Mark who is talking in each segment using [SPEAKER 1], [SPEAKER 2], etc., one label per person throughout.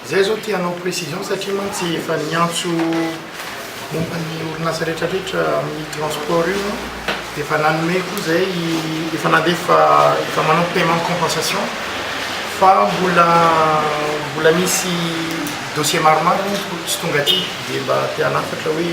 [SPEAKER 1] Izay izao te hanao précision satria mantsy efa niantso momba ny orinasa rehetra rehetra amin'ny transport io dia efa nanome koa izay efa nandefa efa manao paiement compensation fa mbola mbola misy dossier maromaro tsy tonga aty dia mba te hanafatra hoe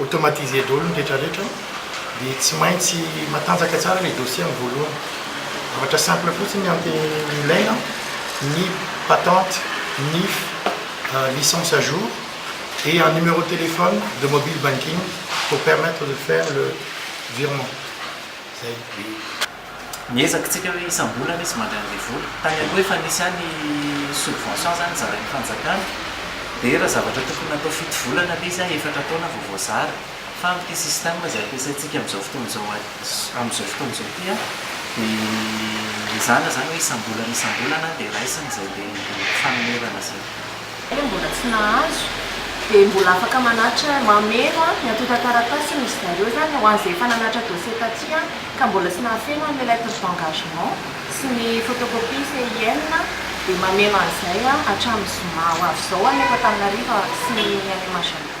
[SPEAKER 1] automatiser daholo ny rehetra rehetra dia tsy maintsy matanjaka tsara ilay dossier amin'ny voalohany. Zavatra simple fotsiny ny ilaina ny patente, NIF, licence à jour et un numéro de téléphone de mobile banking pour permettre de faire le virement. Zay.
[SPEAKER 2] ny ezakitsika hoe isam-bolana izy mandray an'ilay vola. Tany aloha efa nisy ihany ny subvention izany zarain'ny fanjakana, dia raha zavatra tokony natao fito volana ilay izy an, efatra taona vao voazara. Fa amin'ity système izay ampiasaintsika amin'izao fotoana izao an, amin'izao fotoana izao ity an, dia mizana izany hoe isam-bolana isam-bolana dia raisina izay andeha fanonerana izay. Ianao mbola tsy
[SPEAKER 3] nahazo dia mbola afaka manatitra mameno ny antontan-taratasy hono izy zareo zany ho an'izay efa nanatitra dossier taty ka mbola tsy nahafeno an'ilay lettre d'engagement sy ny photocopie CIN dia mameno an'izay hatramin'ny zoma ho avy izao any eto Antananarivo sy ny any Majunga.